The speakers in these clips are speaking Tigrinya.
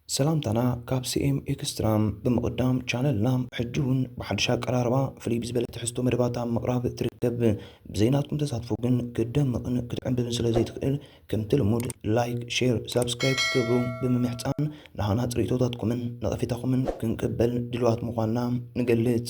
ሰላምታና ካብ ሲኤም ኤክስትራ ብምቕዳም ቻነልና ሕጂ እውን ብሓድሽ ኣቀራርባ ፍልይ ብዝበለ ትሕዝቶ መደባት ኣብ ምቕራብ ትርከብ። ብዘይናትኩም ተሳትፎ ግን ክትደምቕን ክትዕምብብን ስለ ዘይትኽእል ከምቲ ልሙድ ላይክ፣ ሼር፣ ሳብስክራይብ ክትገብሩ ብምምሕጻን ንሃናጽ ርእይቶታትኩምን ነቐፌታኹምን ክንቅበል ድሉዋት ምዃንና ንገልጽ።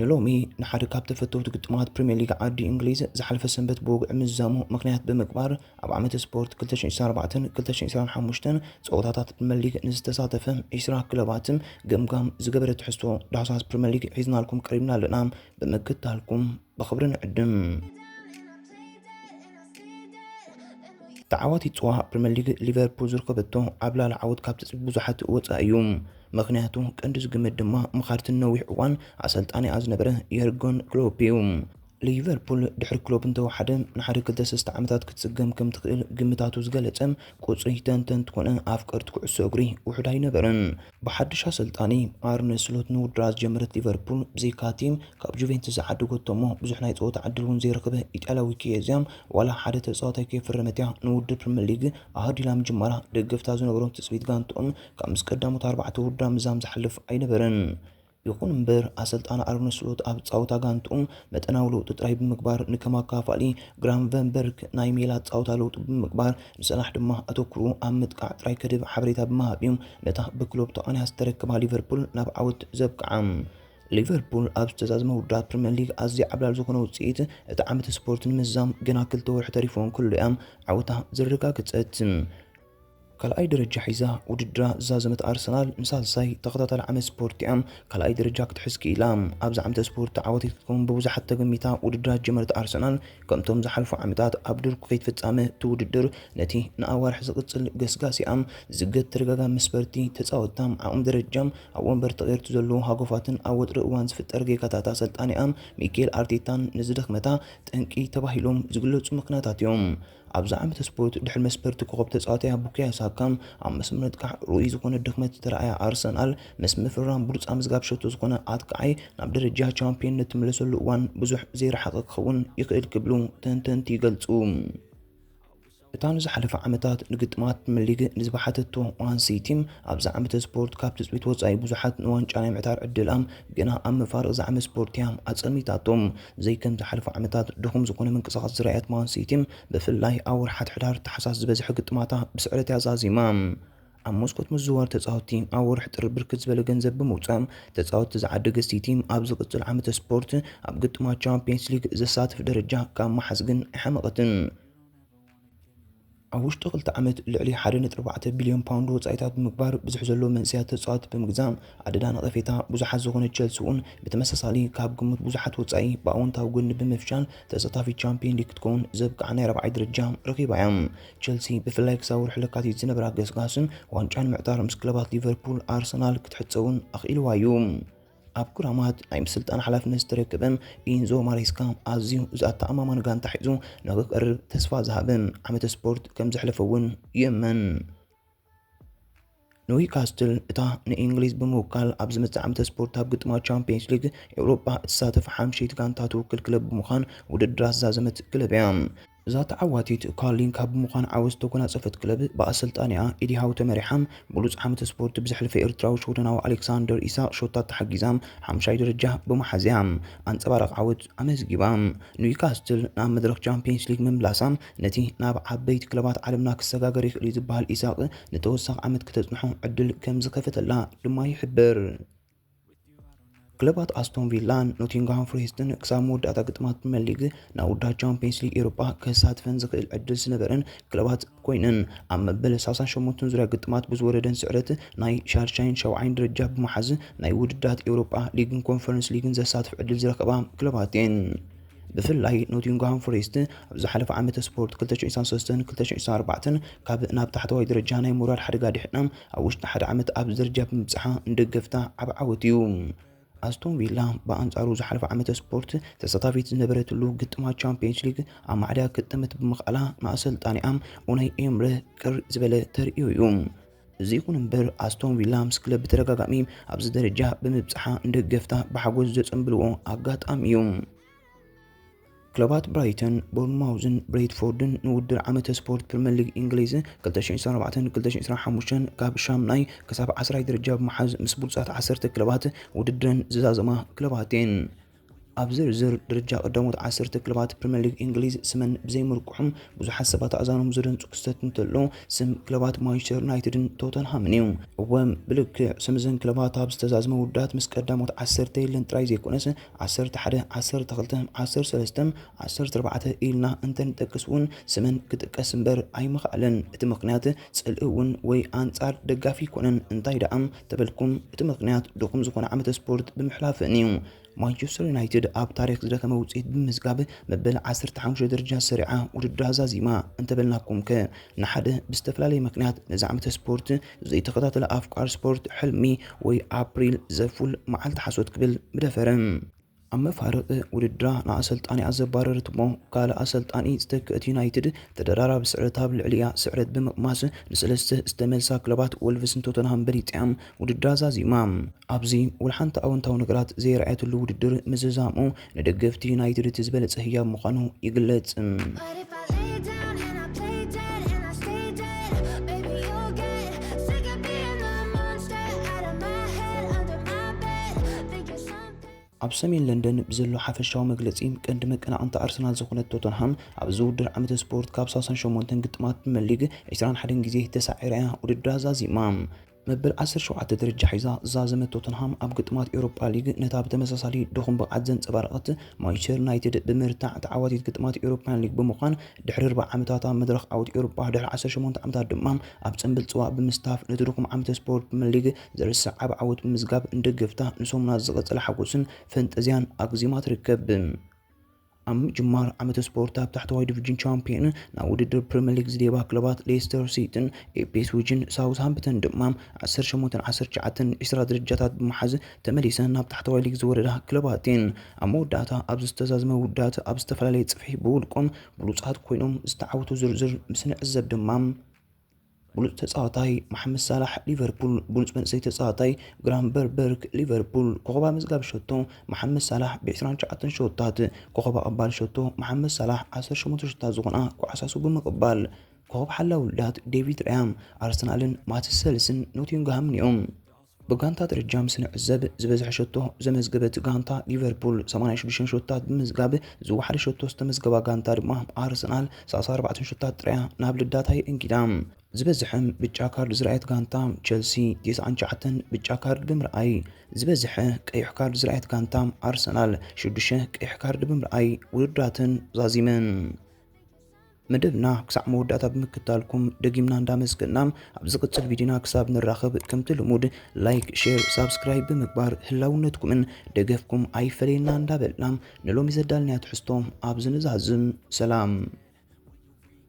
ንሎሚ ንሓደ ካብ ተፈተውቲ ግጥማት ፕሪምየር ሊግ ዓዲ እንግሊዝ ዝሓለፈ ሰንበት ብወግዒ ምዝዛሙ ምኽንያት ብምግባር ኣብ ዓመተ ስፖርት 2024ን 2025ን ፀወታታት ፕሪምየር ሊግ ንዝተሳተፈ 20 ክለባት ገምጋም ዝገበረ ትሕዝቶ ዳህሳስ ፕሪምየር ሊግ ሒዝናልኩም ቀሪብና ኣለና። ብምክታልኩም ብኽብሪ ንዕድም። ተዓዋቲ ፅዋ ፕሪምየር ሊግ ሊቨርፑል ዝርከበቶ ዓብላሊ ዓወት ካብ ትፅቢት ብዙሓት ወፃኢ እዩ። ምኽንያቱ ቀንዲ ዝግመት ድማ ምኻርቲ ንነዊሕ እዋን ኣሰልጣኒኣ ዝነበረ የርጎን ክሎፕ እዩ። ሊቨርፑል ድሕሪ ክሎፕ እንተወሓደ ንሓደ ክልተ ሰስተ ዓመታት ክትጽገም ከም ትኽእል ግምታቱ ዝገለጸ ቁጽሪ ተንተንቲ ኮነ ኣፍቀርቲ ኩዕሶ እግሪ ውሑድ ኣይነበረን። ብሓድሽ ኣሰልጣኒ ኣርነ ስሎት ንውድድራ ዝጀመረት ሊቨርፑል ብዘይካ'ቲ ካብ ጁቬንትስ ዝዓደገቶ እሞ ብዙሕ ናይ ጸወታ ዕድል እውን ዘይረኸበ ኢጣልያዊ ኪየዝያ ዋላ ሓደ ተጻዋታይ ከየፈረመት'ያ ንውድድር ፕሪመር ሊግ ኣሃዱ ኢላ ምጅማራ ደገፍታ ዝነበሮም ትጽቢት ጋንትኦም ከምዚ ቀዳሞት ኣርባዕተ ውርዳ ምዛም ዝሓልፍ ኣይነበረን። ይኹን እምበር ኣሰልጣኒ ኣርነ ስሎት ኣብ ጻውታ ጋንትኡ መጠናዊ ለውጢ ጥራይ ብምግባር ንከም ኣካፋሊ ግራምቨንበርግ ናይ ሜላ ጻውታ ለውጢ ብምግባር ንሰላሕ ድማ ኣተኩሩ ኣብ ምጥቃዕ ጥራይ ከድብ ሓበሬታ ብምሃብ እዩ ነታ ብክሎፕ ተቃኒያ ዝተረከባ ሊቨርፑል ናብ ዓወት ዘብቅዓ። ሊቨርፑል ኣብ ዝተዛዘመ ውርዳት ፕሪምየር ሊግ ኣዝያ ዓብላል ዝኾነ ውጽኢት እቲ ዓመተ ስፖርት ንምዛም ገና ክልተ ወርሒ ተሪፍዎ እንከሎ እያ ዓወታ ዘረጋገጸት። ካልኣይ ደረጃ ሒዛ ውድድራ ዝዛዘመት ኣርሰናል ንሳልሳይ ተኸታታሊ ዓመት ስፖርት እያ ካልኣይ ደረጃ ክትሕዝ ክኢላ። ኣብዚ ዓመተ ስፖርት ዓወተይ ክትከውን ብብዙሓት ተገሚታ ውድድራ ዝጀመረት ኣርሰናል ከምቶም ዝሓልፉ ዓመታት ኣብ ድርኩ ከይት ፍጻመ እቲ ውድድር ነቲ ንኣዋርሕ ዝቕጽል ገስጋሲኣ ዝዝገት ተደጋጋሚ መስበርቲ ተጻወትታ ዓቕሚ ደረጃ ኣብ ወንበር ተቐይርቱ ዘሎ ሃጎፋትን ኣብ ወጥሪ እዋን ዝፍጠር ጌጋታት ኣሰልጣኒኣ ሚኬል ኣርቴታን ንዝድኽመታ ጠንቂ ተባሂሎም ዝግለጹ ምክንያታት እዮም። ኣብዛ ዓመተ ስፖርት ድሕሪ መስመር ኮኾብ ተጻዋታያ ቡካዮ ሳካ ኣብ መስመር ምጥቃዕ ርኡይ ዝኾነ ድኽመት ዝተራእያ ኣርሰናል ምስ ምፍርራም ብሉጻ ምዝጋብ ሸቶ ዝኾነ ኣጥቃዓይ ናብ ደረጃ ቻምፒዮንነት ትምለሰሉ እዋን ብዙሕ ዘይረሓቐ ክኸውን ይኽእል ክብሉ ተንተንቲ ይገልጹ። እታ ንዝሓለፈ ዓመታት ንግጥማት ፕሪምየር ሊግ ንዝበሓተቶ ማን ሲቲ ኣብዚ ዓመተ ስፖርት ካብ ትፅቢት ወፃኢ ብዙሓት ንዋንጫ ናይ ምዕታር ዕድላም ግና ኣብ መፋርቕ ዝዓመት ስፖርት እያ ኣፀልሚታቶም። ብዘይ ከም ዝሓለፉ ዓመታት ድኹም ዝኾነ ምንቅስቓስ ዝረኣየት ማን ሲቲ፣ ብፍላይ ኣብ ወርሓት ሕዳር ታሕሳስ ዝበዝሐ ግጥማታ ብስዕረት እያ ዛዚማ። ኣብ መስኮት ምዝዋር ተጻወትቲ ኣብ ወርሒ ጥሪ ብርክት ዝበለ ገንዘብ ብምውጻእ ተጻወትቲ ዝዓደገት ሲቲ፣ ኣብ ዝቕጽል ዓመተ ስፖርት ኣብ ግጥማት ቻምፕየንስ ሊግ ዘሳትፍ ደረጃ ካብ ምሓዝ ግን ኣይሓመቐትን። ኣብ ውሽጢ ክልተ ዓመት ልዕሊ ሓደ ነጥቢ ኣርባዕተ ቢልዮን ፓውንድ ወጻኢታት ብምግባር ብዝሒ ዘለዎ መንእሰያት ተጻወቲ ብምግዛእ ኣደዳ ነቐፌታ ብዙሓት ዝኾነ ቸልሲ እውን ብተመሳሳሊ ካብ ግምት ብዙሓት ወጻኢ ብኣወንታዊ ጎኒ ብምፍሻል ተሳታፊ ቻምፒየን ሊግ ክትከውን ዘብቅዓ ናይ ራብዓይ ደረጃ ረኺባ እያ። ቸልሲ ብፍላይ ክሳብ ወርሒ ለካቲት ዝነበራ ገስጋስን ዋንጫ ንምዕታር ምስ ክለባት ሊቨርፑል፣ ኣርሰናል ክትሕጸውን ኣኽኢልዋ እዩ። ኣብ ክራማት ናይ ምስልጣን ሓላፍነት ዝተረከበ ኢንዞ ማሬስካ ኣዝዩ ዘተኣማማኒ ጋንታ ሒዙ ንክቀርብ ተስፋ ዝሃበ ዓመተ ስፖርት ከም ዘሕለፈ እውን ይእመን። ኒውካስትል እታ ንእንግሊዝ ብምውካል ኣብ ዝመጽእ ዓመተ ስፖርት ኣብ ግጥማ ቻምፒየንስ ሊግ ኤውሮጳ እትሳተፍ ሓምሸይቲ ጋንታ ትውክል ክለብ ብምዃን ውድድር ኣዛዘመት ክለብ እያ። እዛ ተዓዋቲት ካርሊንካ ብምዃን ዓወት ዝተጎናፀፈት ክለብ ብኣሰልጣኒኣ ኤዲ ሃው ተመሪሓ ብሉፅ ዓመተ ስፖርት ብዘሕለፈ ኤርትራዊ ሽወደናዊ ኣሌክሳንደር ኢሳቕ ሾታት ተሓጊዛ ሓምሻይ ደረጃ ብምሓዝ እያ ኣንፀባራቒ ዓወት ኣመዝጊባ ኒውካስትል ናብ መድረኽ ቻምፒየንስ ሊግ ምምላሳ ነቲ ናብ ዓበይቲ ክለባት ዓለምና ክሰጋገር ይኽእል እዩ ዝበሃል ኢሳቕ ንተወሳኺ ዓመት ክተፅንሖ ዕድል ከምዝኸፈተላ ድማ ይሕበር። ክለባት ኣስቶን ቪላን ኖቲንግሃም ፎሬስትን ክሳብ መወዳእታ ግጥማት ፕሪምየር ሊግ ናብ ውዳብ ቻምፒየንስ ሊግ ኤሮጳ ከሳትፈን ዝኽእል ዕድል ዝነበረን ክለባት ኮይነን ኣብ መበል 68 ዙርያ ግጥማት ብዝወረደን ስዕረት ናይ ሻድሻይን ሸውዓይን ደረጃ ብምሓዝ ናይ ውድድራት ኤውሮጳ ሊግን ኮንፈረንስ ሊግን ዘሳትፍ ዕድል ዝረከባ ክለባት እየን። ብፍላይ ኖቲንግሃም ፎሬስት ኣብ ዝሓለፈ ዓመተ ስፖርት 2023ን 2024ን ካብ ናብ ታሕተዋይ ደረጃ ናይ ምውራድ ሓደጋ ድሕና ኣብ ውሽጢ ሓደ ዓመት ኣብዚ ደረጃ ብምብፅሓ ንደገፍታ ዓብ ዓወት እዩ። ኣስቶን ቪላ ብኣንጻሩ ዝሓለፈ ዓመተ ስፖርት ተሳታፊት ዝነበረትሉ ግጥማ ቻምፒየንስ ሊግ ኣብ ማዕዳ ክጥምት ብምኽኣላ ንኣሰልጣኒኣ ኡናይ ኤምረ ቅር ዝበለ ተርእዮ እዩ። እዚ ይኹን እምበር ኣስቶን ቪላ ምስ ክለብ ብተደጋጋሚ ኣብዚ ደረጃ ብምብጽሓ ንደገፍታ ብሓጎስ ዘጸንብልዎ ኣጋጣሚ እዩ። ክለባት ብራይተን ቦርንማውዝን ብሬትፎርድን ንውድድር ዓመተ ስፖርት ፕሪምየር ሊግ እንግሊዝ 2024-2025 ካብ ሻምናይ ክሳብ ዓስራይ ደረጃ ብምሓዝ ምስ ብሉፃት ዓሰርተ ክለባት ውድድረን ዝዛዘማ ክለባት እየን። ኣብ ዝርዝር ደረጃ ቀዳሞት ዓሰርተ ክለባት ፕሪምየር ሊግ እንግሊዝ ስመን ብዘይምርቁሑ ብዙሓት ሰባት ኣእዛኖም ዝደንጹ ክስተት እንተሎ ስም ክለባት ማንቸስተር ዩናይትድን ቶተንሃምን እዩ። እወ ብልክዕ ስም እዘን ክለባት ኣብ ዝተዛዝመ ውዳት ምስ ቀዳሞት ዓሰርተ የለን ጥራይ ዘይኮነስ ዓሰርተ ሓደ፣ ዓሰርተ ክልተ፣ ዓሰርተ ሰለስተ፣ ዓሰርተ ኣርባዕተ ኢልና እንተንጠቅስ እውን ስመን ክጥቀስ እምበር ኣይምኽኣለን። እቲ ምኽንያት ጽልኢ እውን ወይ ኣንጻር ደጋፊ ኣይኮነን እንታይ ደኣ ተበልኩም እቲ ምኽንያት ድኹም ዝኾነ ዓመተ ስፖርት ብምሕላፈን እዩ። ማንቸስተር ዩናይትድ ኣብ ታሪኽ ዝደኸመ ውጽኢት ብምምዝጋብ መበል ዓሰርተ ሓሙሽተ ደረጃ ሰሪዓ ውድድራ ዛዚማ እንተበልናኩም'ከ ንሓደ ብዝተፈላለየ ምኽንያት ነዚ ዓመተ ስፖርት ዘይተኸታተለ ኣፍቃሪ ስፖርት ሕልሚ ወይ ኣፕሪል ዘፉል መዓልቲ ሓሶት ክብል ምደፈረ። ኣብ መፋርቕ ውድድራ ንኣሰልጣኒኣ ዘባረረት'ሞ ካልእ ኣሰልጣኒ ዝተክእት ዩናይትድ ተደራራቢ ስዕረት ኣብ ልዕሊኣ ስዕረት ብምቕማስ ንሰለስተ ዝተመልሳ ክለባት ወልቭስን ቶተንሃም በሊጻ'ያ ውድድራ ዛዚማ። ኣብዚ ወልሓንቲ ኣወንታዊ ነገራት ዘየርኣየትሉ ውድድር ምዝዛሙ ንደገፍቲ ዩናይትድ እቲ ዝበለጸ ህያብ ምዃኑ ይግለጽ። ኣብ ሰሜን ለንደን ብዘሎ ሓፈሻዊ መግለጺ ቀንዲ መቀናቕንታ ኣርሰናል ዝኾነት ቶተንሃም ኣብዚ ውድድር ዓመተ ስፖርት ካብ ሳሳን ሸሞንተን ግጥማት ፕሪመር ሊግ ዒስራን ሓደን ግዜ ተሳዒራ እያ ውድድራ ዛዚማ። መበል ዓሰርተ ሸውዓተ ደረጃ ሒዛ ዝዛዘመት ቶተንሃም ኣብ ግጥማት ኤውሮፓ ሊግ ነታ ብተመሳሳሊ ድኹም ብቕዓት ዘንጸባረቐት ማንቸስተር ዩናይትድ ብምርታዕ ተዓዋቲት ግጥማት ኤውሮፓን ሊግ ብምዃን ድሕሪ ኣርባዕ ዓመታት ኣብ መድረኽ ዓወት ኤውሮፓ ድሕሪ ዓሰርተ ሸሞንተ ዓመታት ድማ ኣብ ጽምብል ጽዋእ ብምስታፍ ነቲ ድኹም ዓመተ ስፖርት ፕሪመር ሊግ ዝርሳዕ ኣብ ዓወት ብምዝጋብ እንደገፍታ ንሰሙናት ዝቐጸለ ሓጎስን ፈንጠዝያን ኣግዚማ ትርከብ። ኣብ ምጅማር ዓመተ ስፖርት ኣብ ታሕተዋይ ዲቪዥን ቻምፒዮን ናብ ውድድር ፕሪምየር ሊግ ዝደባ ክለባት ሌስተር ሲቲን ኤፒስዊጅን ሳውዝሃምፕተን ድማ 18 19 20 ደረጃታት ብምሓዝ ተመሊሰን ናብ ታሕተዋይ ሊግ ዝወረዳ ክለባት እየን። ኣብ መወዳእታ ኣብ ዝተዛዝመ ውዳት ኣብ ዝተፈላለየ ጽፍሒ ብውልቆም ብሉጻት ኮይኖም ዝተዓወቱ ዝርዝር ምስ ንዕዘብ ድማ ብሉጽ ተጻዋታይ መሓመድ ሳላሕ ሊቨርፑል ብሉጽ መንእሰይ ተጻዋታይ ግራንበርበርግ ሊቨርፑል ኮኸብ ኣመዝጋቢ ሸቶ መሓመድ ሳላሕ ብ29 ሸወታት ኮኸብ ኣቐባሊ ሸቶ መሓመድ ሳላሕ 18 ሸታት ዝኾና ኩዓሳሱ ብምቕባል ኮኸብ ሓላዊ ውልዳት ዴቪድ ርያም ኣርሰናልን ማትስ ሰልስን ኖቲንግሃምን እዮም። ብጋንታ ደረጃ ምስ ንዕዘብ ዝበዝሐ ሸቶ ዘመዝገበት ጋንታ ሊቨርፑል 86 ሸቶታት ብምዝጋብ ዝወሓደ ሸቶ ዝተመዝገባ ጋንታ ድማ ኣርሰናል 34 ሸቶታት ጥራያ ናብ ልዳታ የእንጊዳ። ዝበዝሐም ብጫ ካርድ ዝረኣየት ጋንታ ቸልሲ 99 ብጫ ካርድ ብምርኣይ ዝበዝሐ ቀይሕ ካርድ ዝረኣየት ጋንታ ኣርሰናል 6 ቀይሕ ካርድ ብምርኣይ ውድድራተን ዛዚመን። መደብና ክሳዕ መወዳእታ ብምክታልኩም ደጊምና እንዳመስገና ኣብ ዝቕጽል ቪድዮና ክሳብ ንራኸብ ከምቲ ልሙድ ላይክ ሼር ሳብስክራይብ ብምግባር ህላውነትኩምን ደገፍኩም ኣይፈለየና እንዳበልና ንሎሚ ዘዳልናያ ትሕዝቶ ኣብዚ ንዛዝም ሰላም